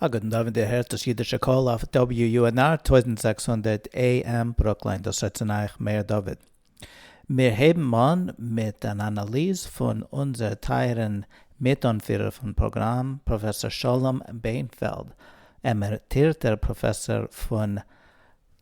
א גוטן דאווענט דו הערסט דאס אידישע קול אויף WUNR טויזנט זעקס הונדערט AM ברוקלין דאס רעדט צו אייך מאיר דוד. מיר הייבן אן מיט אן אנאליז פון אונזער טייערן מיט אנפירער פון פראגראם פראפעסאר שלום בענפעלד עמעריטירטער פראפעסאר פון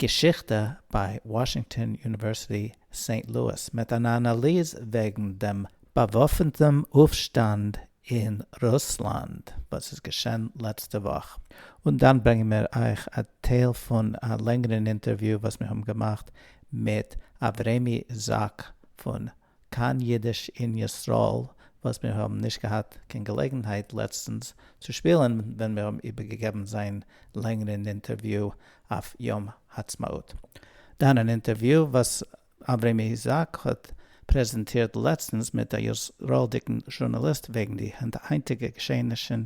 געשיכטע ביי וואשינגטאן יוניווערסיטי סעינט לואיס מיט אן אנאליז וועגן דעם באוואפנטעם אויפשטאנד אין רוסלאנד וואס איז געשען לעצטע וואך, און דאן ברענגען מיר אייך א טייל פון א לענגערן אינטערוויו וואס מיר האבן געמאכט מיט אברעמי זאק פון כאן אידיש אין ישראל וואס מיר האבן נישט געהאט קיין געלעגנהייט לעצטנס צו שפילן ווען מיר האבן איבערגעגעבן זיין לענגערן אינטערוויו אויף יום העצמאות, דאן אן אינטערוויו וואס אברהם איזאק האט פרעזענטירט לעצטנס מיט א ישראל'דיגן זשורנאליסט וועגן די היינטיגע געשעענישן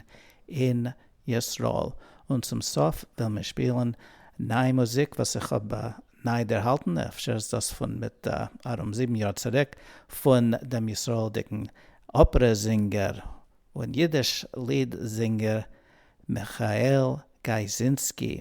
אין ישראל, און צום סוף וועלן מיר שפילן ניי מוזיק וואס איך האב ניי דערהאלטן, אפשר איז דאס פון מיט ארום זיבן יאר צוריק, פון דעם ישראל'דיגן אפערע זינגער און אידיש ליד זינגער מיכאל גייזינסקי,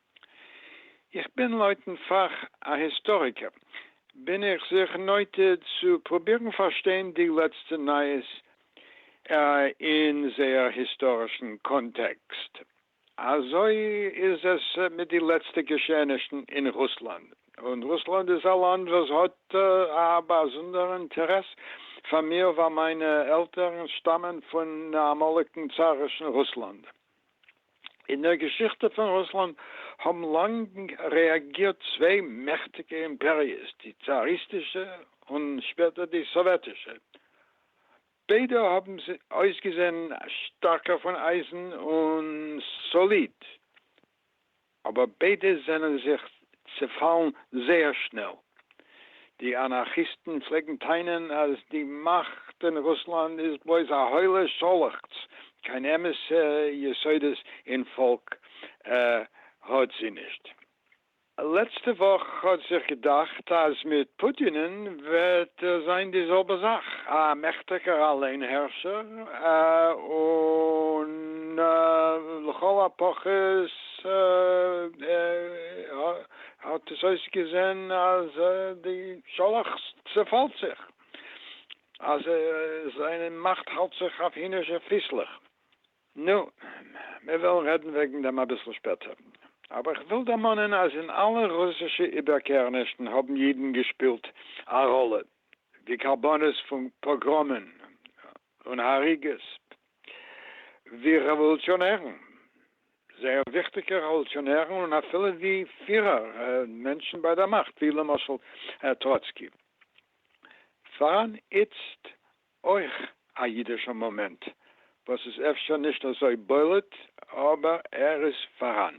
איך בין לויטן פאך א היסטאריקער, בין איך זיך נוטה צו פרובירן פארשטיין די לעצטע נייעס אין זייער היסטארישן קאנטעקסט. אזוי איז עס מיט די לעצטע געשעענישן אין רוסלאנד, און רוסלאנד איז א לאנד וואס האט א באזונדערע אינטערעס פאר מיר ווייל מיינע עלטערן שטאמען פון אמאליגן צארישן רוסלאנד. אין דער געשיכטע פון רוסלאנד האבן לאנג רעאגירט צוויי מעכטיגע אימפעריעס, די צאריסטישע און שפעטער די סאוועטישע. ביידע האבן אויסגעזען שטארקער פון אייזן און סאליד. אבער ביידע זענען זיך צעפאלן זייער שנעל. די אנארכיסטן פלעגן טענה'ן אז די מאכט אין רוסלאנד איז בלויז א הוילע שאלעכטץ, קיין אמת'ע יסודות אין פאלק האט זי נישט. לעצטע וואך האט זיך געדאכט אז מיט פוטינ'ן וועט זיין די זעלבע זאך, א מעכטיגער אליינהערשער, און לכל הפחות ס ה האט עס אויסגעזען אז די שאלאכטס צעפאלט זיך, אז זיין מאכט האלט זיך אויף הינערשע פיסלעך. נו, מיר וועלן רעדן וועגן דעם אביסל שפעטער. אבער איך וויל דערמאנען אז אין אלע רוסישע איבערקערנישן האבן אידן געשפילט א ראלע ווי קרבנות פון פאגראמען און הריגות ווי רעוואלוציאנערן, זייער וויכטיגע רעוואלוציאנערן, און אפילו ווי פירער, מענטשן ביי דער מאכט, ווי למשל טראצקי. פאראן איצט אויך א אידישער מאמענט, וואס איז אפשר נישט אזוי בולט, אבער ער איז פאראן.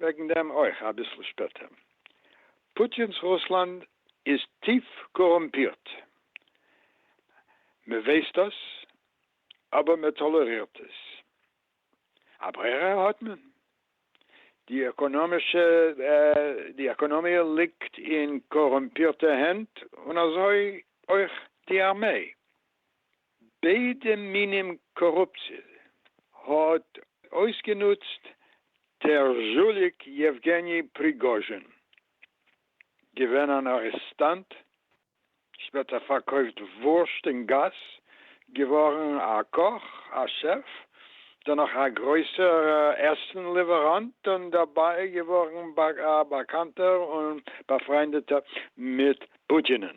וועגן דעם אויך אביסל שפעטער. פוטינ'ס רוסלאנד איז טיף קארומפירט. מ'ווייסט דאס, אבער מ'טאלערירט עס. א ברירה האט מען? די עקאנאמישע די עקאנאמיע ליגט אין קארומפירטע הענט און אזוי אויך די ארמיי. ביידע מינים קארופציע האט אויסגענוצט טערזשוליק יעווגעני פריגאזשין, געווען אן ארעסטאנט, שפעטער פארקויפט וואורשט אין גאס, געווארן א קאך, א שעף, דערנאך א גרויסער עסן ליוועראנט, און דערביי געווארן א באקאנטער און באפריינדעטער מיט פוטינ'ן.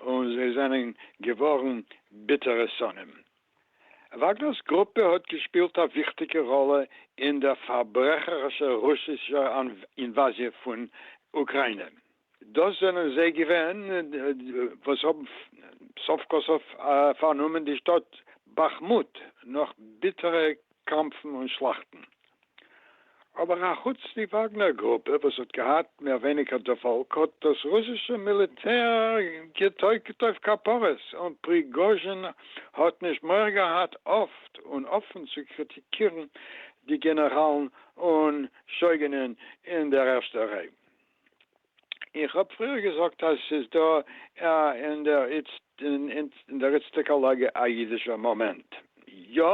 און זיי זענען געווארן ביטערע שונאים. וואגנער'ס גרופע האט געשפילט א וויכטיגע ראלע אין דער פארברעכערישער רוסישער אינוואזיע פון אוקראינע. דאס זענען זיי געווען וואס האבן סוף כל סוף פארנומען די שטאט באכמוט נאך ביטערע קאמפן און שלאכטן. אבער א חוץ די וואגנער גרופע וואס האט געהאט מער ווייניגער דערפאלג האט דאס רוסישע מיליטער געטויגט אויף כפרות און פריגאזשין האט נישט מורא געהאט אפט און אפען צו קריטיקירן די גענעראלן און שויגענען אין דער ערשטער ריי איך האב פריער געזאגט אז ס'איז דא אין דער איצטיגער לאגע א אידישער מאמענט. יא,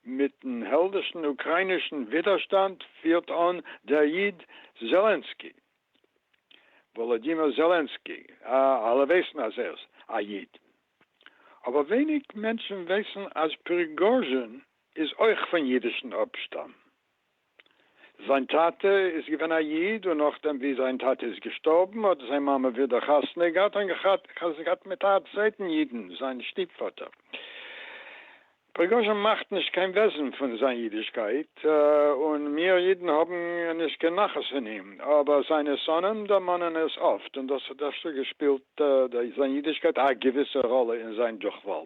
מיט'ן העלדישן אוקריינישן ווידערשטאנד פירט אן דער איד זעלענסקי, וואלאדימיר זעלענסקי, אלע ווייסן אז ער איז א איד, אבער ווייניג מענטשן ווייסן אז פריגאזשין איז אויך פון אידישן אפשטאם. זיין טאטע איז געווען א איד און נאכדעם ווי זיין טאטע איז געשטארבן האט זיין מאמע ווידער חתונה געהאט און געהאט חתונה געהאט מיט א צווייטן אידן, זיין שטיפפאטער. פריגאזשין מאכט נישט קיין וועזן פון זיין אידישקייט און מיר אידן האבן נישט קיין נחת פון אים, אבער זיינע שונאים דערמאנען עס אפט און דאס האט אפשר געשפילט זיין אידישקייט א געוויסע ראלע אין זיין דורכפאל.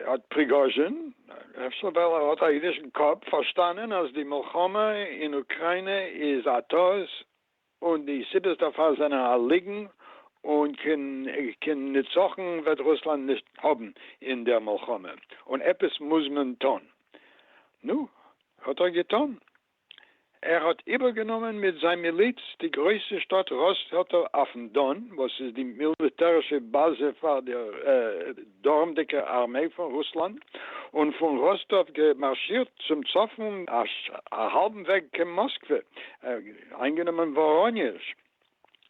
האט פריגאזשין, אפשר ווייל ער האט א אידישן קאפ, פארשטאנען אז די מלחמה אין אוקריינע איז א טעות און די סיבות דערפאר זענען א ליגן און קיין נצחון וועט רוסלאנד נישט האבן אין דער מלחמה און עפעס מוז מען טון. נו, האט ער געטון. ער האט איבערגענומען מיט זיין מיליץ די גרויסע שטאט ראספעלטער אויפן דאן, וואס איז די מיליטערישע באזע פאר די דרומדיקע ארמיי פון רוסלאנד, און פון ראסטאוו געמארשירט צום צפון א האלבן וועג קיין מאסקווע, איינגענומען וואראניעזש,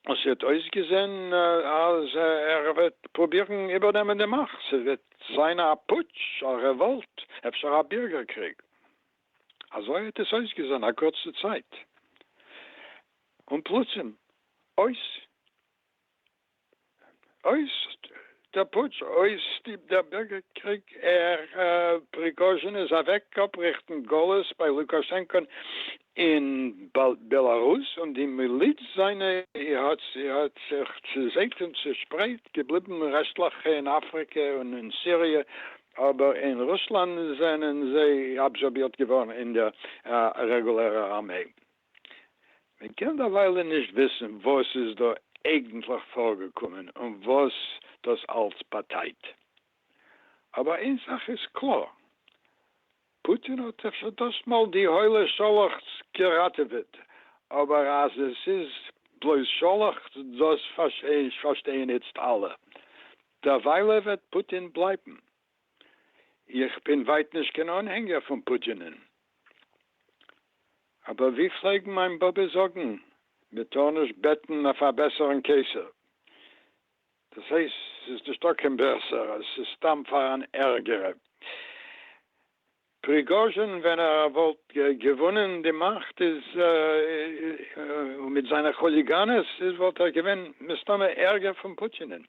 און ס'האט אויסגעזען אז ער וועט פרובירן איבערנעמען די מאכט, ס'וועט זיין א פוטש, א רעוואלט, אפשר א בירגער קריג. אזוי האט עס אויסגעזען א קורצע צייט, און פלוצים אויס אויס דער פוטש, אויס די דער בירגערקריג, ער פריגאזשין איז אוועק אפריכטן גלות ביי לוקאשענקא'ן אין בעלארוס, און די מיליץ זיינע האט האט זיך צעזעגט און צעשפרייט, געבליבן רעשטלעך אין אפריקע און אין סיריע אבער אין רוסלאנד זענען זיי אבזארבירט געווארן אין דער רעגולערער ארמעי. מען קען דערוויילע נישט וויסן וואס איז דא אייגנטליך פארגעקומען און וואס דאס אלץ באטייט. אבער איין זאך איז קלאר, פוטין האט זיך שוין דאס מאל די הוילע שאלאכטס געראטעוועט, אבער אז עס איז בלויז שאלאכטס דאס פארשטייען איצט אלע. דערוויילע וועט פוטין בלייבן. איך בין ווייט נישט קיין אנהענגער פון פוטינ'ן, אבער ווי פלעגן מיין באבע זאגן, מען טאר נישט בעטן אויף א בעסערן קיסר, דאס הייסט ס'איז נישטא קיין בעסערע, ס'איז סתם פאר אן ערגערע. פריגאזשין ווען ער וואלט געוואנען די מאכט איז און מיט זיינע כוליגאנעס איז וואלט ער געווען מסתמא ערגער פון פוטינ'ען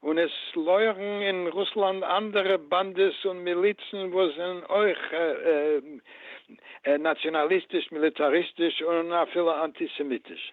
און עס לויערן אין רוסלאנד אנדערע באנדעס און מיליצן וואס זענען אויך נאציאנאליסטיש מיליטאריסטיש און אפילו אנטיסעמיטיש.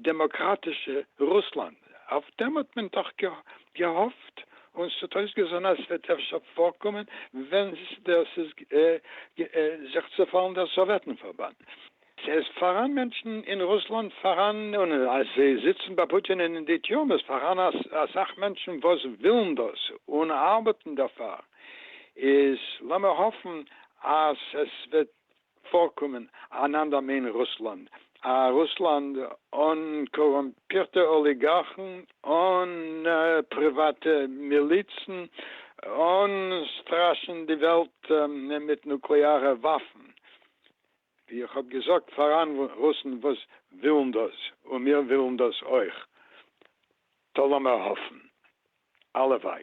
דעמאקראטישע רוסלאנד, אויף דעם האט מען דאך געהאפט, און ס'האט אויסגעזען אז ס'וועט אפשר פארקומען ווען דאס איז זיך צעפאלן דער סאוועטן פארבאנד. ס'איז פאראן מענטשן אין רוסלאנד פאראן, און אז זיי זיצן ביי פוטין אין די טיורמעס פאראן אסאך מענטשן וואס ווילן דאס און ארבעטן דערפאר, איז לאמיר האפן אז עס וועט פארקומען אנאנדער מעין רוסלאנד, א רוסלאנד אן קארומפירטע אליגארכן, אן פריוואטע מיליצן, אן סטראשען די וועלט מיט נוקלעארע וואפן, ווי איך האב געזאגט פאראן רוסן וואס ווילן דאס, און מיר ווילן דאס אויך, טא לאמער האפן, הלוואי.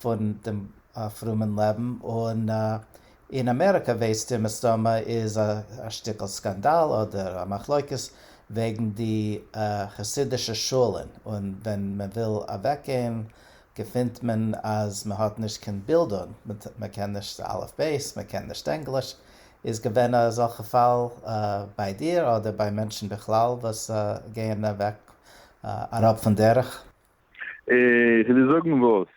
פון דעם פרומען לעבן, און אין אמעריקע וועסטו מסתמא איז א שטיקל סקאנדאל אדער א מחלוקת וועגן די חסידישע שולן, און ווען מען וויל אוועק גיין געפינט מען אז מען האט נישט קיין בילדונג, מען קען נישט אלף בית, מען קען נישט ענגליש, איז געווען אזעלכע פאל ביי דיר אדער ביי מענטשן בכלל וואס גייען אוועק אראפ פון דרך? אה, כדי זאגן וואס?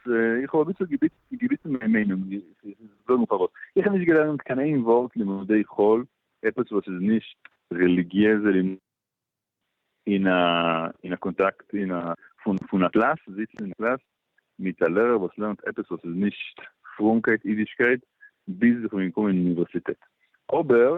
איך האב אביסל געוויטערט מיין מיינונג, כדי זאגן פארוואס. איך האב נישט געלערנט קיין איין ווארט לימודי חול, עפעס וואס איז נישט רעליגיעזע לימודים, אין א, אין א קאנטאקט, אין א, פון א קלאס, זיצן אין א קלאס, מיט א לערער וואס לערנט עפעס וואס איז נישט פרומקייט, אידישקייט, ביז איך בין געקומען אין אוניווערסיטעט. אבער,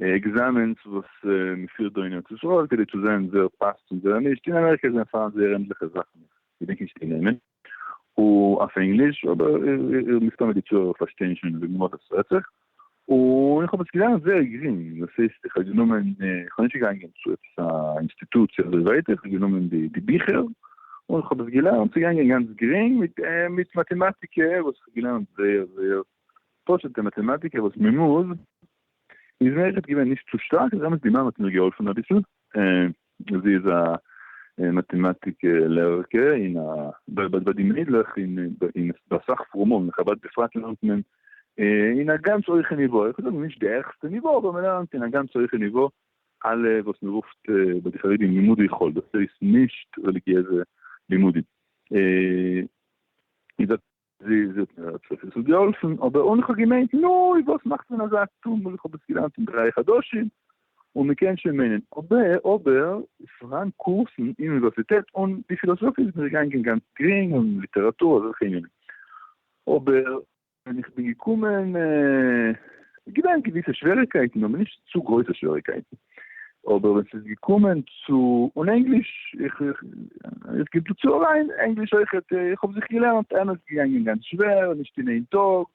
עקזעמענס וואס מען פירט דא אין ארץ ישראל כדי צו זען ווער פאסט און ווער נישט, אין אמעריקע איז שוין פאראן זייער ענדליכע זאכן איך געדענק נישט די נעמען אויף ענגליש אבער מסתמא די צוהערער פארשטייען שוין וועגן וואס עס רעדט זיך, און איך האב עס געלערנט זייער גרינג, דאס הייסט איך האב גענומען איך בין נישט געגאנגען צו עפעס א אינסטיטוציע אזוי ווייטער, איך האב גענומען די ביכער און איך האב עס געלערנט, ס'איז געגאנגען גאנץ גרינג מיט מאטעמאטיקע וואס איך האב געלערנט זייער זייער פשוט'ע מאטעמאטיקע וואס מ'מוז, איז מיר עכט געווען נישט צו שטארק, איז אמת די מאמע האט מיר געהאלפן אביסל, זי איז א מאטעמאטיק לערערקע אין א, ביי די מיידלעך אין אין ביי אסאך פרומען אין חבד בפרט לערנט מען אין א גאנץ הויכע ניווא, איך וויל זאגן נישט די העכסטע ניווא, אבער מ'לערנט אין א גאנץ הויכע ניווא אלע וואס מ'רופט ביי די חרדים לימודי חול, דאס הייסט נישט רעליגיעזע לימודים, איז א. זי זאגט מיר האט זיך עס האט געהאלפן אבער און איך האב געמיינט נוי וואס מאכט מען אזא טומל איך האב עס געליינט אין דריי חדשים און מען קען שוין מיינען אבער אבער איז פארהאן קורסן אין אוניווערסיטעט און די פילאזאפיע איז מיר געגאנגען גאנץ גרינג און ליטעראטור אזעלכע ענינים אבער ווען איך בין געקומען איז געווען געוויסע שוועריקייטן אבער נישט צו גרויסע שוועריקייטן. אבער ווען ס'איז געקומען צו און ענגליש, איך איך גיב דא צו אליין, ענגליש אויכעט, איך האב זיך געלערנט, אמת ס'געגאנגען גאנץ שווער, נישט אין איין טאג,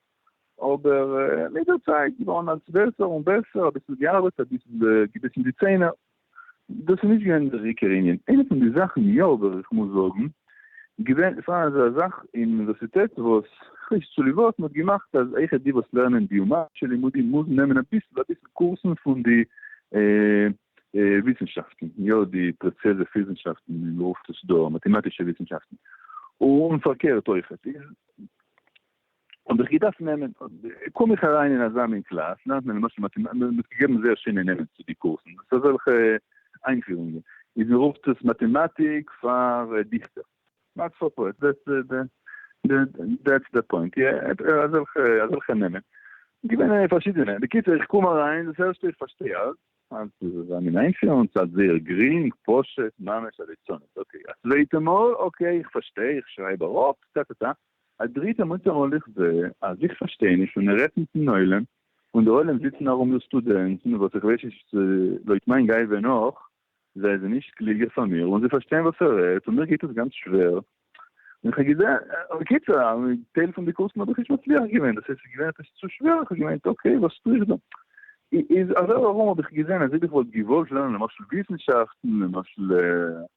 אבער מיט דער צייט געווארן אלץ בעסער און בעסער, אביסל געארבעט, אביסל געביסן די ציינער, דאס איז נישט געווען דער עיקר ענין, איינע פון די זאכן יא וועל איך מוז זאגן, געווען פאר אזא זאך אין אוניווערסיטעט וואס כ'ווייס צוליב וואס מ'האט געמאכט אז אויכעט די וואס לערנען ביומעדישע לימודים מוזן נעמען אביסל אביסל קורסן פון די וויסנשאפטן, יא די פרעצעזע פיזנשאפטן ווי מ'רופט עס דא, מאטעמאטישע וויסנשאפטן, און פארקערט אויכעט איז. האב איך געדארפט נעמען, קום איך אריין אין אזא מין קלאס, לערנט מען למשל מעט, מען האט געגעבן זייער שענע נעמען צו די קורסן, דאס איז אזעלכע איינפירונגען, איז מען רופט עס מאטעמאטיק פאר דיכטער, מאטס פאר פאעטס, דעטס די פוינט, יא, אזעלכע, אזעלכע נעמען, געווען פארשידענע, בקיצור איך קום אריין, דאס ערשטע איך פארשטיי אלץ, אז דאס איז אזא מין איינפירונג, ס'האלט זייער גרינג, פשוט, ממש א ליצנות, אקעי, א צווייטע מאל, אקעי איך פארשטיי, איך שרייב אראפ, טא טא טא. א דריטע מוצא און איך זע אז איך פארשטיי נישט און ער רעדט מיטן עולם און די עולם זיצן ארום דא סטודענטן וואס איך ווייס נישט לויט מיין גיי ווען נאך זיי זענען נישט קלוגער פאר מיר און זיי פארשטייען וואס ער רעדט און מיר גייט עס גאנץ שווער און איך האב געזען בקיצור א טייל פון די קורסן האב איך נישט מצליח געווען דאס הייסט ס'איז געווען עפעס צו שווער איך האב געמיינט אקעי וואס טו איך דא איז אזוי ארום האב איך געזען אז אויב איך וואלט געוואלט לערנען למשל וויסנשאפטן למשל.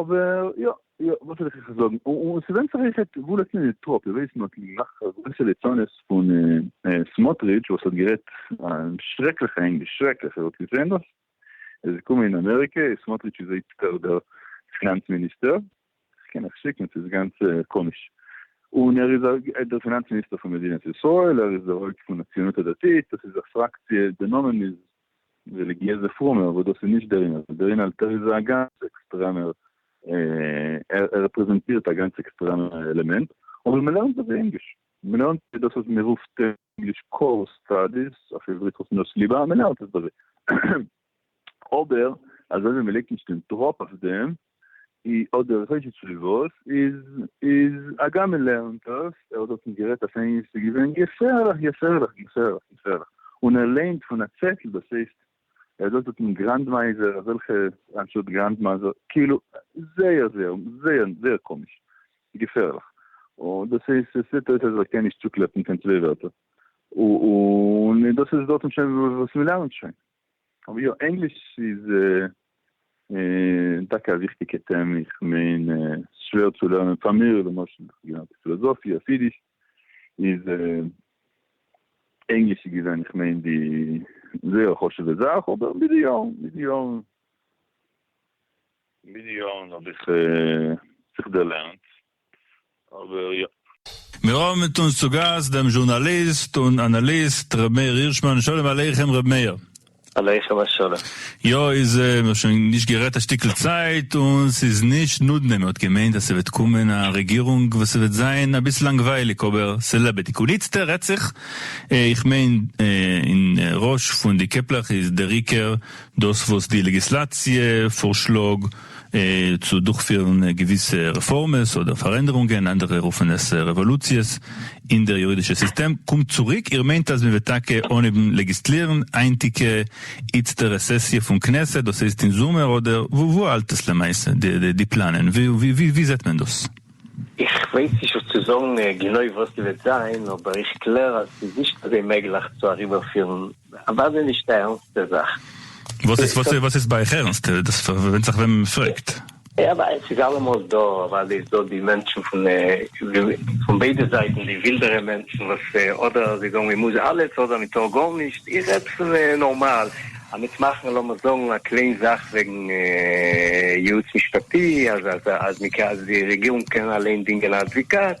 אבער יא יא וואס וויל איך אייך זאגן, און ס'ווענדט זיך אויכעט וואו לייגט מען די טראפ, איר ווייסט מ'האט געמאכט א גרויסע ליצנות פון סמוטריטש וואס האט גערעדט שרעקליכע ענגליש, שרעקליך, איר האט געזען דאס? ער איז געקומען אין אמעריקע, סמוטריטש איז איצטערט דער פינאנץ מיניסטער, כ'קען אייך שיקן, ס'איז גאנץ קאמיש, און ער איז דער פינאנץ מיניסטער פון מדינת ישראל, ער איז דער הויפט פון הציונות הדתית, דאס איז א פראקציע, די נאמען איז רעליגיעזע פרומער וואס דאס איז נישט דער ענין, דער ענין אלטער איז א גאנץ עקסטרעמער ער רעפרעזענטירט א גאנץ עקסטרעמער עלעמענט, אבער מען לערנט אויף ענגליש, מען לערנט דאס וואס מען רופט אין ענגליש קאור סטאדיס, אויף עברית רופט מען עס ליבה, מען לערנט עס דא אזוי, אבער אזוי ווי מען לייגט נישט דעם דראפ אויף דעם, אדער ראשי תשובות איז איז הגם מען לערנט דאס ער האט דארט נישט גערעדט אויף ענגליש ס'איז געווען געפערליך געפערליך געפערליך געפערליך און ער לערנט פון א צעטל דאס הייסט ער האט דארט דארט אין גראנדמייזער אזעלכע אנשטאט גראנדמאזער כאילו זייער זייער זייער זייער קאמיש געפערליך און דאס הייסט עס זעט אויס אז ער קען נישט צוקלעפן קיין צוויי ווערטער און דאס איז דארטן שוין וואס מ'לערנט שוין. אבער יא, ענגליש איז טאקע א וויכטיגע טעמע, איך מיין ס'איז שווער צו לערנען, פאר מיר למשל, איך האב געלערנט פילאזאפיע אויף אידיש, איז ענגליש איז געווען איך מיין די זייער חשוב'ע זאך, אבער מיט די יארן, מיט די יארן, מיט די יארן האב איך זיך דערלערנט. אבער יא. מיר האבן מיט אונז צו גאסט דעם זשורנאליסט און אנאליסט ר' מאיר הירשמאן, שלום עליכם ר' מאיר. עליכם השלום. יא איז מיר האט שוין נישט גערעדט א שטיקל צייט און ס'איז נישט נודנע מען האט געמיינט אז ס'וועט קומען א רעגירונג וואס ס'וועט זיין אביסל לאנגווייליג אבער ס'לעבעדיג און איצטער רעדט זיך איך מיין אין ראש פון די קעפלעך איז דער עיקר דאס וואס די לעגיסלאציע פארשלאג צו דורכפירן געוויסע רעפארמעס אדער פארענדערונגען, אנדערע רופן עס רעוואלוציעס, אין דער יורידישע סיסטעם. קומט צוריק, איר מיינט אז מען וועט טאקע אנהייבן לעגיסטלירן היינטיגע איצטערע סעסיע פון כנסת, דאס הייסט אין זומער, אדער וואו וואו האלט עס למעשה די די פלאנען? ווי זעט מען דאס? איך ווייס נישט וואס צו זאגן גענוי וואס ס'וועט זיין, אבער איך קלער אז ס'איז נישט געווען מעגליך צו אריבערפירן אוודאי נישט די ערנסטע זאך. וואס איז וואס איז ביי אייך ערנסט? דאס ווענדט זיך וועמען מען פרעגט. אוודאי ס'איז אלעמאל דא, אוודאי איז דא די מענטשן פון פון ביידע זייטן, די ווילדערע מענטשן וואס אדער זיי זאגן מען מוז אלעס אדער מען טאר גארנישט, איך רעד פון נארמאל, עמית מאכן לאמיר זאגן א קליין זאך וועגן יעוץ משפטי אז אז אז די רעגירונג קען אליין דינגען א אדוואקאט,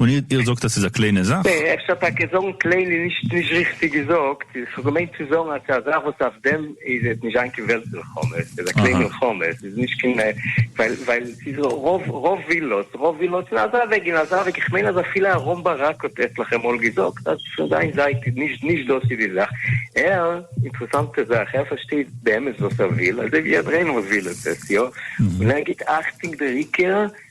און איר איר זאגט אז ס'איז א קליינע זאך? אפשר טאקע זאגן קליין איז נישט נישט ריכטיג געזאגט, איך האב געמיינט צו זאגן אז ס'איז א זאך וואס אויף דעם איז עס נישט זיין קיין וועלט מלחמה, ס'איז א קליין אהא. מלחמה, ס'איז נישט קיין ווייל ווייל ס'איז רוב רוב ווילאס רוב ווילאס אין אזא וועג אין אזא וועג, איך מיין אז אפילו אהרן ברק האט עטליכע מאל געזאגט אז פון זיין זייט איז נישט נישט דאס איז די זאך, ער אינטערעסאנטע זאך ער פארשטייט באמת וואס ער וויל אזוי ווי עד ראינו וואס וויל עס עס יא און ער גיבט אכטונג דער עיקר.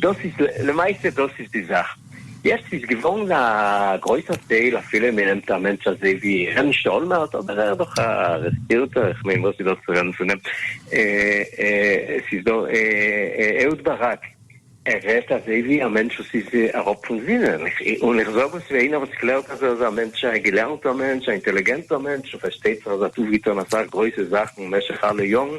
דאס איז למעשה דאס איז די זאך, יעצט איז געווארן א גרויסער טייל אפילו מען נעמט א מענטש אזוי ווי ר' משה אולמערט אבער ער איז דאך א רעספירטער איך מיין וואס איז דאס צו רעדן פון אים, עס איז דא אהוד ברק ער רעדט אזוי ווי א מענטש וואס איז אראפ פון זינען, און איך זאג עס ווי איינער וואס קלערט אז ער איז א מענטש א געלערנטער מענטש א אינטעליגענטער מענטש און פארשטייט זיך אז ער האט אויפגעטון אסאך גרויסע זאכן משך אלע יארן,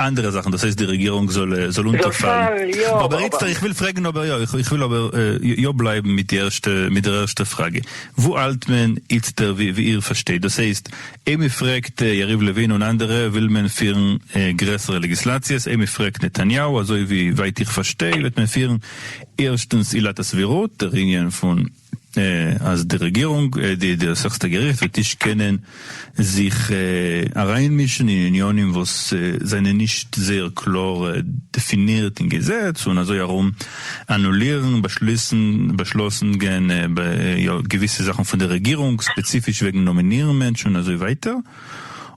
אנדערע זאכן דאס הייסט די רעגירונג זאל זאל אונטערפאלן אבער איצטער איך וויל פרעגן אבער יא איך וויל אבער יא בלייבן מיט די ערשטע מיט דער ערשטע פראגע וואו האלט מען איצטער ווי ווי איר פארשטייט דאס הייסט איי מ'פרעגט יריב לוין און אנדערע וויל מען פירן גרעסערע לעגיסלאציעס איי מ'פרעגט נתניהו אזוי ווי ווייט איך פארשטיי וועט מען פירן ערשטנס עילת הסבירות דער ענין פון אז די רעגירונג, די דאס העכסטע געריכט וועט נישט קענען זיך אריינמישן אין עניינים וואס זענען נישט זייער קלאר דעפינירט אין געזעץ און אזוי ארום אנולירן באשלוסן באשלאסן גען געוויסע זאכן פון די רעגירונג ספעציפיש וועגן נאמינירן מענטשן און אזוי ווייטער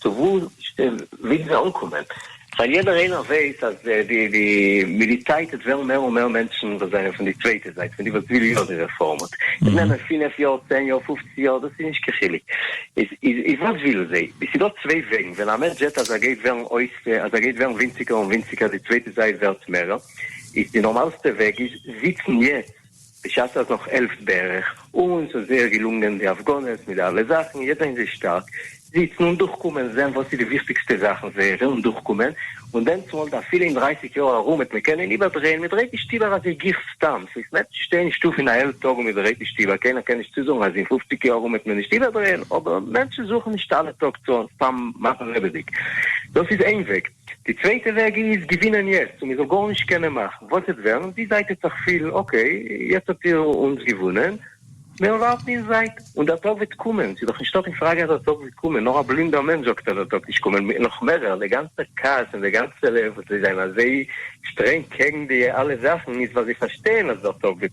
צו וואו ווילן זיי אנקומען? ווייל יעדער איינער ווייסט אז די מיט די צייט עס וועלן מער און מער מענטשן וואס זענען פון די צווייטע זייט פון די וואס וויל יא די רעפארם עס נעמען פֿינף יאר צען יאר פֿופֿצן יאר דאס איז נישט קיין חילוק איז וואס ווילן זיי עס איז דא צוויי וועגן ווען א מענטש זעט אז ער גייט ווערן אויס אז ער גייט ווערן ווינציגער און ווינציגער די צווייטע זייט ווערט מערער איז די נארמאלסטע וועג איז זיצן יעצט. בשעת אז נאך העלפט בערך, אונז איז זייער געלונגען די הפגנות מיט די אלע זאכן, יעדער אין זיי שטארק, זיצן און דורכקומען, זען וואס איז די וויכטיגסטע זאכן זייערע און דורכקומען, און דענסמאל די אפילו אין דרייסיג יאר ארום וועט מען קענען איבערדרייען, מען דרייט נישט איבער אזוי גיך סתם, סאיז מער צו שטיין אין שטוב אין א העלפט טאג און מען דרייט נישט איבער, קיינער קען נישט צוזאגן אז אין פופציג יאר ארום וועט מען נישט איבערדרייען, אבער מענטשן זוכן נישט אלע טאג צו האבן סתם מאכן לעבעדיג, דאס איז איין וועג. די צווייטע וועג איז געווינען יעצט און מען זאל גארנישט קענען מאכן, וואס וועט ווערן? די זייט וועט זיך פילן אקעי יעצט האט איר אונז געוואונען, מיר ווארטן אין זייט און דער טאג וועט קומען, ס'איז דאך נישטא קיין פראגע אז דער טאג וועט קומען, נאר א בלינדער מענטש זאגט אז דער טאג נישט קומען, נאך מערער די גאנצע כעס און די גאנצע וואס זיי זענען אזוי שטרענג קעגן די אלע זאכן איז ווייל זיי פארשטייען אז דער טאג וועט.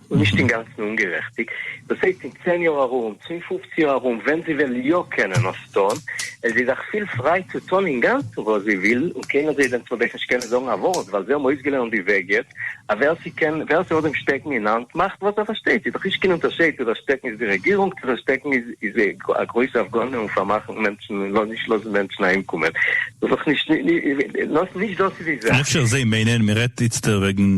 און נישט אינגאנצן אומגערעכטיג, דאס הייסט אין צען יאר ארום, צו אין פופצן יאר ארום, ווען זי וועל יא קענען עס טון, איז זי דאך פיל פריי צו טון אינגאנצן וואס זי וויל, און קיינער זאל איר דען צודעק נישט קענען זאגן א ווארט, ווייל זיי האבן אויסגעלערנט די וועג יעצט, אז ווער ס'קען, ווער ס'האט דעם שטעקן אין האנט, מאכט וואס ער פארשטייט, ס'איז דאך נישט קיין אונטערשייד צו דער שטעקן איז די רעגירונג, צו דער שטעקן איז איז א גרויסע הפגנה און פארמאכן מענטשן און נישט לאזן מענטשן אהיימקומען, דאס איז דאך נישט, נישט דאס איז די זאך. אפשר זיי מיינען מ'רעדט איצטער וועגן.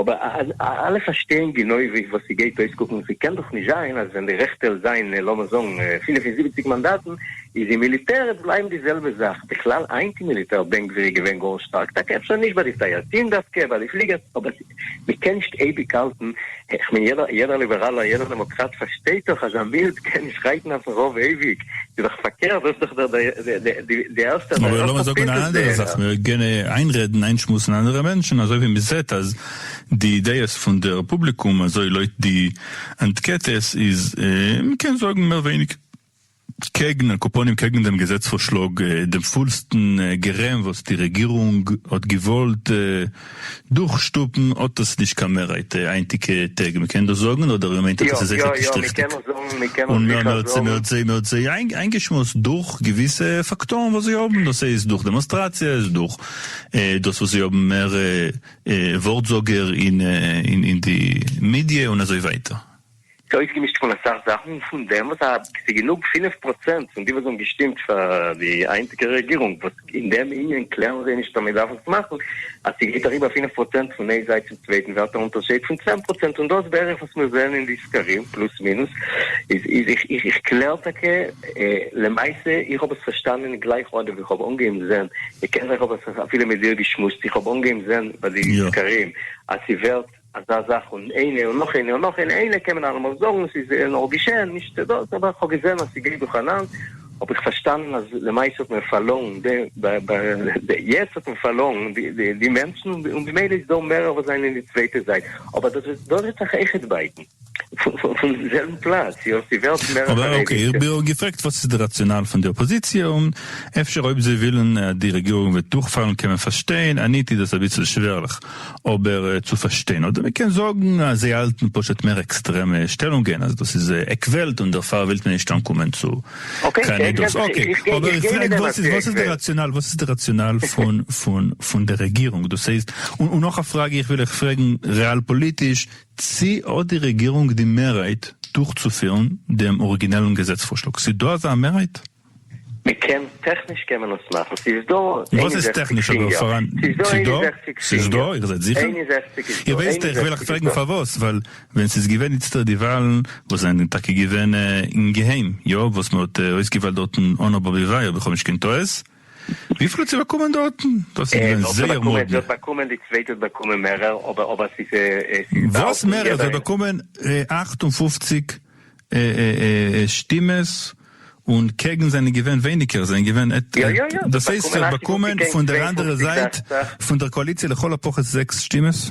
אבער אז אלע פארשטייען גענוי וואס ס'גייט אויסקוקן, ס'קען דאך נישט זיין אז ווען די רעכטע וועלן זיין לאמיר זאגן פֿינף און זיבעציק מאנדאטן, איז אין מיליטער עט בלייבן די זעלבע זאך, בכלל היינט אין מיליטער בן גביר איז געווען גאר שטארק, טאקע אפשר נישט ביי די טייארטין דווקא, ביי די פליגערס, אבער מ'קען נישט אייביג האלטן, כ'מיין יעדער ליבעראלער יעדער דעמאקראט פארשטייט דאך אז א מיליט קען נישט רייטן אויפן רוב אייביג. איז דאך פארקערט, דאס איז דאך דער די ערשטער די ערשטע פריצות בענער. איינרעדן, איינשמועסן אנדערע מענטשן, אזוי ווי מען זעט אז די דעות פון דער פובליקום אזוי לויט די אנטקעטעס איז, מען קען זאגן מער ווייניג קעגן, על כפנים קעגן דעם געזעץ פארשלאג, דעם פולסטן גערעם וואס די רעגירונג האט געוואלט. דורך שטופן האט דאס נישט קיין מערהייט היינטיגע טעג מען קען דאס זאגן אדער איר מיינט אז דאס איז זיכער נישט ריכטיג און מען האט זיי איינגעשמועסט דורך געוויסע פאקטארן וואס זיי האבן דאס איז דורך דעמאנסטראציעס דורך דאס וואס זיי האבן מער ווארט זאגער אין די מידיע און אזוי ווייטער. ס'איז אויסגעמישט פון אסאך זאכן, און פון דעם וואס ס'איז גענוג פינף פראצענט פון די וואס האבן געשטימט פאר די היינטיגע רעגירונג, וואס אין דעם יוניאן קלערן זיי נישט אז מען דארף עס מאכן, אז ס'גייט אריבער פינף פראצענט פון איין זייט צום צווייטן ווערט א אונטערשייד פון צען פראצענט, און דאס בערך וואס מיר זעען אין די סקרים פלוס מינוס, איז איז איך איך איך קלער טאקע למעשה, איך האב עס פארשטאנען גלייך אנדעם ווי איך האב אנגעהויבן זען, איך קען זיך האב עס אפילו מיט דיר געשמועסט, איך האב אנגעהויבן זען ביי די סקרים אז ס'ווערט. אזא זאך און איינע און נאך איינע און נאך איינע, איינע קען מען אלעמאל זאגן ס'איז נאר געשען נישט דאס אבער כ'האב געזען אז ס'גייט דורכאנאנד האב איך פארשטאנען אז למעשה האט מען פארלוירן די יעצט האט מען פארלוירן די מענטשן און במילא איז דא מערער וואס זענען די צווייטע זייט אבער דאס וועט זיך עכט בייטן. פון די זעלבע פלאץ, יאך די וועלט מער א חרדישע. אקעי, איך האב געפרעגט וואס איז די ראציאנאל פון די אפאזיציע, און אפשר אויב זיי ווילן אז די רעגירונג וועט דורכפאלן קען מען פארשטיין, אניט איז דאס אביסל שווערליך אבער צו פארשטיין, אדער מען קען זאגן אז זיי האלטן פשוט מער עקסטרעמע שטעלונגען אז דאס איז עק וועלט און דערפאר ווילט מען נישט אנקומען צו קיין עדות, אקעי, אבער איך פרעג וואס איז וואס איז די ראציאנאל וואס איז די ראציאנאל פון פון פון די רעגירונג דאס הייסט, און נאך א פראגע איך וויל אייך פרעגן ריאל פאליטיש, צי האט די רעגירונג די מערהייט דורכצופירן דעם אריגינעלן געזעץ פארשלאג? ס'איז דא אזא מערהייט? מ'קען, טעכניש קען מען עס מאכן, ס'איז דא איין וואס און איז זעכציג טעכניש אבער סיענגער, פאראן? ס'איז דא איין ס'איז און דא? זעכציג ס'איז דא? סיענגער, איר זענט זיכער? איין און זעכציג איז איר דא, ווייסט איין און איך ווילעך זעכציג איז פרעגן דא. פארוואס ווייל ווען ס'איז געווען איצטער די וואלן וואס זענען טאקע געווען אין געהיים, יא וואס מ'האט אויסגעוויילט דארטן אן א באבי וויי אויב איך האב נישט קיין טעות, וויפיל האט זי באקומען דארטן? דארט איז געווען זייער מאדנע. זי האט באקומען די צווייטע האט באקומען מערער אבער אבער ס'איז ס'איז באלד וואס מערער? זי האט באקומען אַכט און פֿופֿציק שטימעס און קעגן זענען געווען ווייניגער זענען געווען דאס הייסט זי האט באקומען פון דער אנדערע זייט פון דער קאליציע לכל הפחות זעקס שטימעס?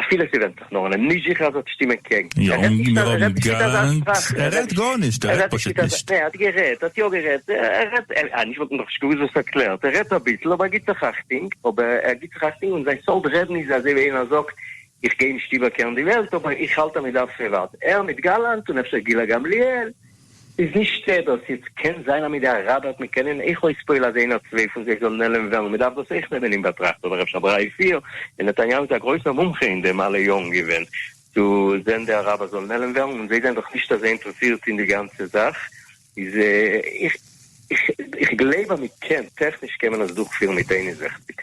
אפילו ס'ווענדט זיך נאר און איז נישט זיכער אז ער האט שטימען קעגן. יא, און מיר האבן געלערנט, ער רעדט גארנישט, ער רעדט פשוט נישט. נע, ער האט גערעדט, ער האט יא גערעדט, ער רעדט, אה, נישט וואס, נאכנישט געוואוסט וואס ער קלערט, ער רעדט אביסל אבער ער גיבט זיך אכטונג, אבער ער גיבט זיך אכטונג און זיין סארט רעדן איז אזוי ווי איינער זאגט, איך גיי נישט איבערקערן די וועלט אבער איך האלט אז מ'דארף פריוואט, ער מיט גאלאנט און אפשר גילה גמליאל, איז נישטא דאס יעצט, קען זיין אז מיט די אראבער האט מען קענען אויך אויספועל אז איין אדער צוויי פון זיי זאלן נעלם ווערן, מען דארף דאס אויך נעמען אין באטראכט, אבער אפשר דריי פיר, און נתניהו איז א גרויסער מומחה אין דעם אלע יארן געווען, צו זען די אראבער זאלן נעלם ווערן, און זיי זענען דאך נישט אזוי אינטערעסירט אין די גאנצע זאך, איז איך גלייב אז מען קען, טעכניש קען מען עס דורכפירן מיט איין און זעכציק.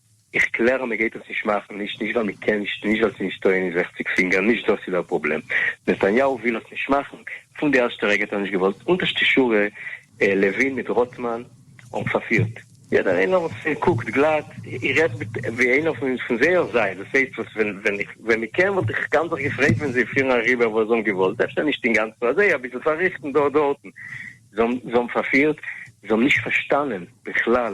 איך קלער אז מען גייט עס נישט מאכן, נישט נישט ווייל מען קען נישט, נישט ווייל ס'איז נישט טוען אין זעכציג פינגער, נישט דאס איז דער פראבלעם, נתניהו וויל עס נישט מאכן, פון די ערשטע רגע האט ער נישט געוואלט, אונטערשטע שורה, לעווין מיט רוטמאן האבן פארפירט. יעדער איינער וואס קוקט גלאט, איך רעד ווי איינער פון זייער זייט, דאס הייסט וואס ווען מען קען וואלט איך גאנץ זיך געפרייט ווען זיי פירן אריבער וואס זיי האבן געוואלט, אפשר נישט אינגאנצן אזוי, אביסל פארריכטן דא דארטן, זיי האבן פארפירט, זיי האבן נישט פארשטאנען בכלל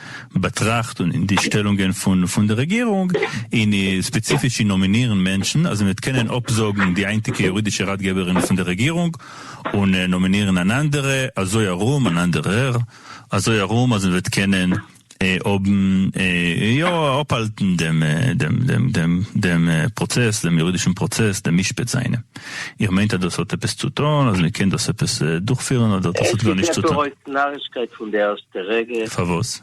באטראכט און אין די שטעלונגען פון פון די רעגירונג אין ספעציפיש אין נאמינירן מענטשן אז מען וועט קענען אפזאגן די היינטיגע יורידישע ראטגעבערין פון די רעגירונג און נאמינירן אן אנדערע אזוי ארום אן אנדערער אזוי ארום אז מען וועט קענען האבן יא אפהאלטן דעם דעם דעם דעם דעם פראצעס דעם יורידישן פראצעס דעם משפט זיינע איר מיינט אז דאס האט עפעס צו טון אז מען קען דאס עפעס דורכפירן אדער דאס האט גארנישט צו טון? די רגע. פארוואס?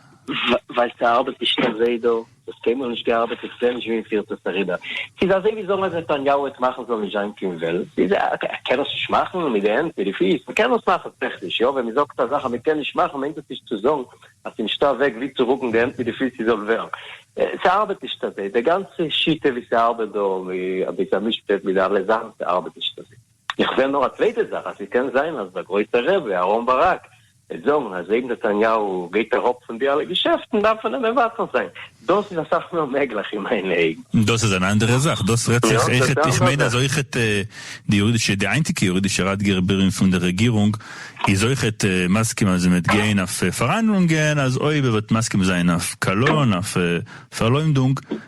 ווייל ס'ארבעט נישט קיין זעה דא, ס'האט קיינמאל נישט געארבעט, איך זעה נישט ווי מ'פירט עס אריבער. ס'איז אזוי ווי זאגן אז נתניהו העט מאכן ס'זאל נישט זיין קיין וועלט, ס'איז א, אקעי, ער קען עס נישט מאכן מיט די הענט, מיט די פיס, מ'קען עס מאכן טעכניש, יא, ווען מ'זאגט א זאך אז מ'קען נישט מאכן מיינט דאס נישט צו זאגן אז ס'איז נישטא א וועג ווי צו רוקן די הענט מיט די פיס ס'זאל ווערן. ס'ארבעט נישט אזוי, די גאנצע שיטה ווי ס'ארבעט דא, ווי אביסל מישפט מיט די אלע זאכן, ס'ארבעט נישט אזוי. איך זעה נאר א צווייטע זאך אז ס'קען זיין אז דער גרויסער רבי אהרן ברק וועט זאגן אז אויב נתניהו גייט אראפ פון די אלע געשעפטן דארף מען אים מבטל זיין, דאס איז אסאך מער מעגליך אין מיינע אויגן. דאס איז אן אנדערע זאך, דאס רעדט זיך אויכעט, איך מיין אז אויכעט די יורידישע, די היינטיגע יורידישע ראטגער בירעם פון דער רעגירונג איז אויכעט מסכים אז מען וועט גיין אויף פארהאנדלונגען, אז אויב ער וועט מסכים זיין אויף קאלון, אויף פארלוימדונג,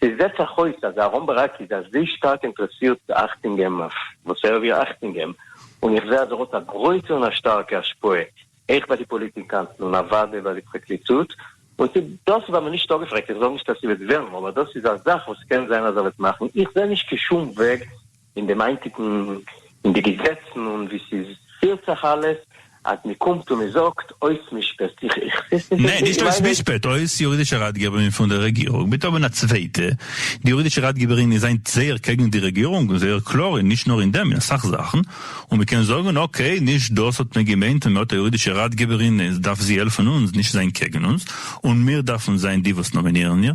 עס זעט זיך אויס אז אהרן ברק איז אזוי שטארק אינטרעסירט צו אכטונג געבן אויף וואס ער וויל אכטונג געבן, און איך זע אז ער האט א גרויסע און א שטארקע השפעה אויך ביי די פאליטיקאנטן און אוודאי ביי די פרקליטות, און צו דאס וועט מען נישט אפגעפרעגט, איך זאג נישט אז ס'וועט ווערן, אבער דאס איז א זאך וואס קען זיין אז ער וועט מאכן, איך זע נישט קיין שום וועג אין דעם היינטיגן אין די געזעצן און ווי ס'איז פילט זיך אלעס אז מ'קומט און מ'זאגט אויס משפט איך איך סיס נישט ניין נישט אויס משפט אויס יורידישע ראטגעבערין פון די רעגירונג מיט האבן א צווייטע די יורידישע ראטגעבערין איז היינט זייער קעגן די רעגירונג און זייער קלאר אין נישט נאר אין דעם אין אסאך זאכן און מ'קען זאגן אקעי נישט דאס האט מען געמיינט און מ'האט א יורידישע ראטגעבערין איז דארף זי העלפן אונז נישט זיין קעגן אונז און מיר דארפן זיין די וואס נאמינירן איר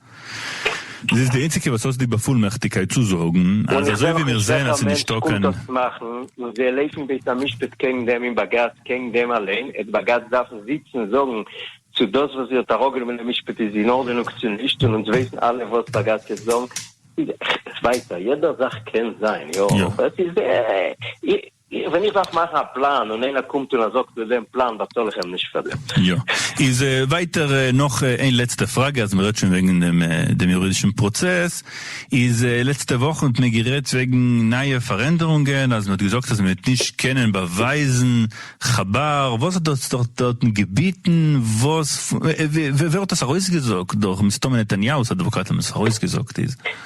זי איז די איינציגע וואס האט די באפולמעכטיגקייט צו זאגן און אז איך אזוי זעה ווי נאך מיר נישט זעהן אז וועלכער ס'איז מענטש נישטא קומט קיין דאס מאכן און זיי לעיפן בית המשפט קעגן דעם און בגץ קעגן דעם אליין עט בגץ דארפן זיצן זאגן צו דאס וואס זי האט אראפגענומען די משפט איז אין ארדענונג צו נישט און אונז ווייסן אלע וואס בגץ וועט זאגן ווייטער יעדער זאך קען זיין יא אבער עס איז ווען איך דארף מאכן א פלאן און איינער קומט און זאגט מיט דעם פלאן באצאל איך אים נישט פאר דעם. יא. איז ווייטער נאך איין לעצטע פראגע אז מ'רעדט שוין וועגן דעם יורידישן פראצעס, איז לעצטע וואכן האט מען גערעדט וועגן נייע פארענדערונגען אז מ'האט געזאגט אז מ'וועט נישט קענען באווייזן חבר, וואס האט דאס דארט דארטן געביטן, וואס, ווער האט דאס ארויסגעזאגט, דורך מסתמא נתניהו'ס אדוואקאטן האבן עס ארויסגעזאגט איז.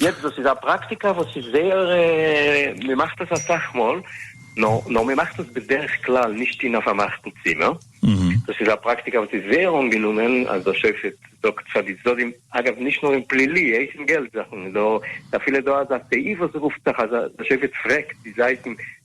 יעצט דאס איז א פראקטיקה וואס איז זייער, מען מאכט עס אסאך מאל, נאר מען מאכט עס בדרך כלל נישט אין א פארמאכטן צימער, דאס איז א פראקטיקה וואס איז זייער אנגענומען אז דער שופט זאגט פאר די צדדים, אגב נישט נאר אין פלילי, אויך אין געלט זאכן, ס'איז אפילו דא אזא סעיף וואס רופט זיך אז דער שופט פרעגט די זייטן,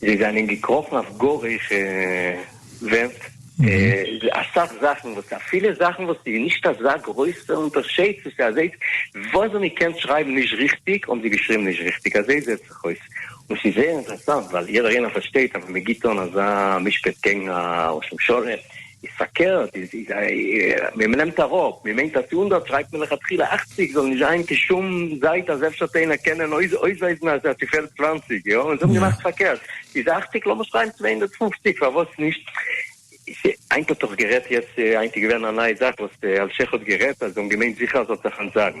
זיי זענען געקראכן אויף גאר הויכע ווערט, אסאך זאכן וואס אפילו זאכן וואס איז נישט אזא גרויסע אונטערשייד צו ס'איז אזוי וואס ווען מ'קען שרייבן נישט ריכטיג האבן זיי געשריבן נישט ריכטיג אזוי זעהט זיך אויס און ס'איז זייער אינטערעסאנט ווייל יעדער איינער פארשטייט אז ווען מ'גיבט אן אזא משפט קעגן א ראש ממשלה איז פארקערט, איז איז א ווען מען נעמט אראפ, מען מיינט אז צו הונדערט שרייבט מען לכתחילה אכציג זאל נישט זיין קיין שום זייט אז אפשר האט איינער קענען אויסווייזן אז עס פעלט צוואַנציק יא און זיי האבן געמאכט פארקערט איז אכציג לאמיר שרייבן צוויי הונדערט פֿופֿציק פארוואס נישט היינט האט דאך גערעדט יעצט היינט איז געווען א נייע זאך וואס אלשיך האט גערעדט אז זיי האבן געמיינט זיכער אז עס האט זיך אנטזאגן.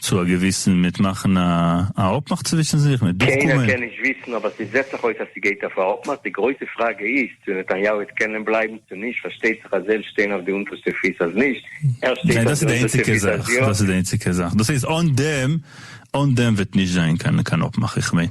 צו א געוויסן מיט מאכן א א אפמאך צווישן זיך מיט דורך קיינער קומען. קען נישט וויסן אבער ס'זעט זיך אויס אז ס'גייט אויף א אפמאך, די גרויסע פראגע איז צו נתניהו וועט קענען בלייבן צו נישט, פארשטייט זיך אז ער שטיין אויף די אונטערשטע פיס אז נישט, ער שטייט אויף די אונטערשטע פיס אז יא. דאס איז די איינציגע זאך, דאס הייסט אן דעם אן דעם וועט נישט זיין קיין אפמאך איך מיין.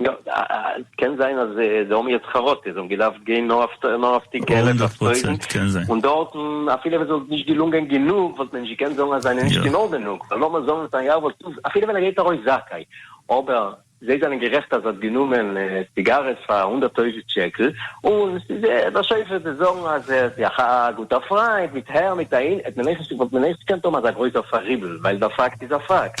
יא, קען זיין אז די האבן יעצט חרטה, זיי האבן געדארפט גיין נאר אויף די געלע הונדערט פראצענט קען זיין. און דארטן אפילו ווען ס'וואלט נישט געלונגען גענוג וואלט מען נישט געקענט זאגן אז זיי זענען נישט אין ארדענונג, ווייל לאמיר זאגן נתניהו וואלט אפילו ווען ער געט ארויס זכאי, אבער זיי זענען גערעכט אז ער האט גענומען סיגארעס פאר הונדערט טויזענט שקל, און ס'איז דער שופט וועט זאגן אז ער איז א גוטער פריינט מיט הער מיט אהין, וואלט מען עכט געקענט האבן אזא גרויסער פאריבל, ווייל דער פאקט איז א פאקט.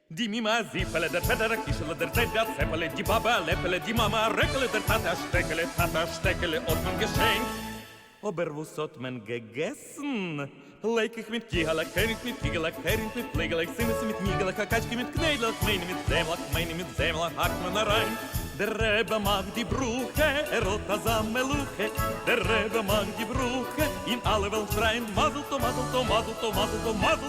די מומע א זיפעלע, דער פעטער א קישעלע, דער זיידע א צעפעלע, די באבע א לעפעלע, די מאמע א רעקעלע, דער טאטע א שטעקעלע, טאטע א שטעקעלע האט מען געשענקט. אבער וואס האט מען געגעסן? לעקעך מיט קיהלעך, הערינג מיט פיגעלעך, הערינג מיט פליגעלעך, צימעס מיט ניגעלעך, א קאטשקע מיט קניידלעך, מעני מיט זעמלעך, מעני מיט זעמלעך האקט מען אריין. דער רבי מאכט די ברכה, ער האט אזא מלאכה, דער רבי מאכט די ברכה, און אלע וועלן שרייען מזל טוב מזל טוב מזל טוב מזל טוב מזל.